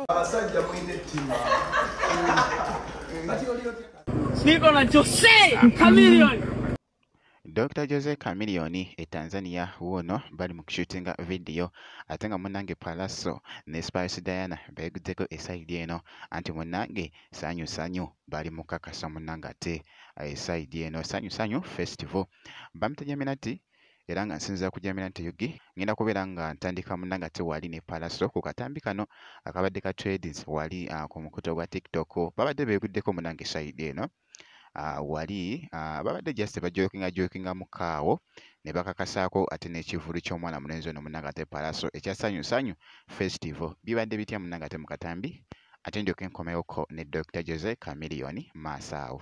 abasajja mulina ettima Niko na Jose Chameleone. Dr. Jose Chameleone e Tanzania wuuno bali mu kushutinga vidiyo ate nga munnange Pallaso ne Spice Diana beeguddeko esayidi eno anti munnange sanyu sanyu bali mu kakasa munnange ate esayidi eno sanyu sanyu festival bamutegeminati era nga nsinzira ku jamira nti yugi ngenda kubeera nga ntandika muna nga te wali ne palaso ku katambi kano akabadde ka tradings wali uh, ku mukuto gwa tiktok babadde beeguddeko munange sayidi eno uh, wali uh, babadde just bajokinga jokinga mukaawo ne bakakasaako ate n'ekivulu ky'omwana mulenzi ono munange ate palaso ekya sanyu sanyu festival bibadde bitya munange ate mu katambi ate ndyoke nkomewoko ne dr jose camilion maasaawo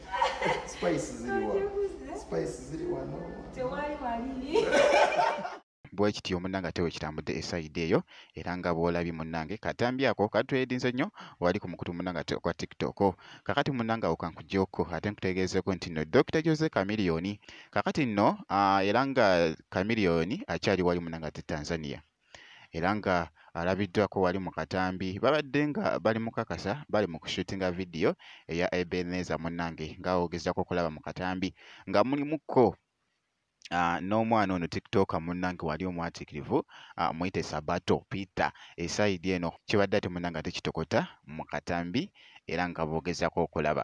spice ziri wa spice ziri wano tewali walini bwekityo munange ate wekitambudde esaidi eyo era nga bwolabye munange katambi ako katwedinze nnyo wali ku mukutu munange ate okwa tiktok kakati munange awo kankujoko ate nkutegeezeko nti no dokita jose kamiliyoni kakati nno era nga kamiliyoni akyali wali munange ate tanzania era nga alabiddwako wali mu katambi babadde nga bali mukakasa bali mu kushutinga vidiyo eya ebeneza munnange ng'awogezzako okulaba mu katambi nga mulimukko Uh, n'omwana ono tiktok munnange wali omwatikirivu uh, muyite sabato peter esaidi eno kibadde ate munnange ate kitokota mu katambi era nga boogezako okulaba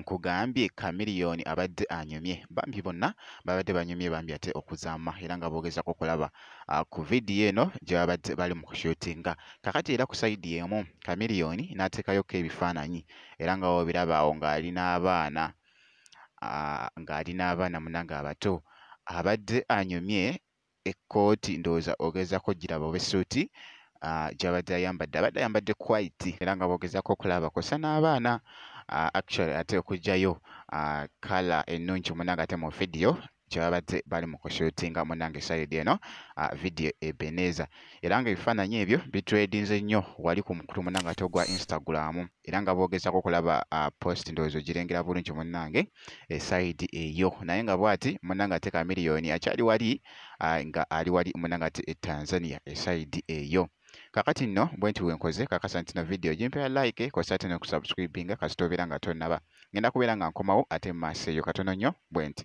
nkugambye Chameleone abadde anyumye bambi bonna babadde banyumye bambi ate okuzaama era nga boogezako okulaba ah, ku vidiyo eno gye babadde bali mu kushutinga kakati era ku sayidi emu Chameleone n'ateekayoko ebifaananyi era nga wobiraba awo ng'ali n'abaana ah, ng'ali n'abaana munange abato abadde anyumye ekkooti ndowooza ogezaako giraba oba essuuti ah, gyabadde ayambadde abadde ayambadde quite era nga bogezaako okulaba kosa n'abaana ah, actually ate okugyayo kala ah, ennungi munanga ate mu vidiyo kyebabadde bali mu kushutinga munange sayidi eno vidiyo ebeneza era nga ebifaananyi ebyo bitredinze nnyo wali ku mukutu munange ate ogwa instagramu era nga boogezako okulaba uh, post ndowooza ogirengera bulungi munnange esaidi eh, eyo naye nga bwati munnange ate ka miliyoni akyali wali uh, nga ali wali munnange ate e tanzania esaidi eyo kakati nno bwe nti wenkoze kakasa nti no vidiyo gimpera like kosa ate nokusubscribinga kasita obeera nga tonaba ngenda kubeera nga nkomawo ate mu maaso eyo katono nnyo bwe nti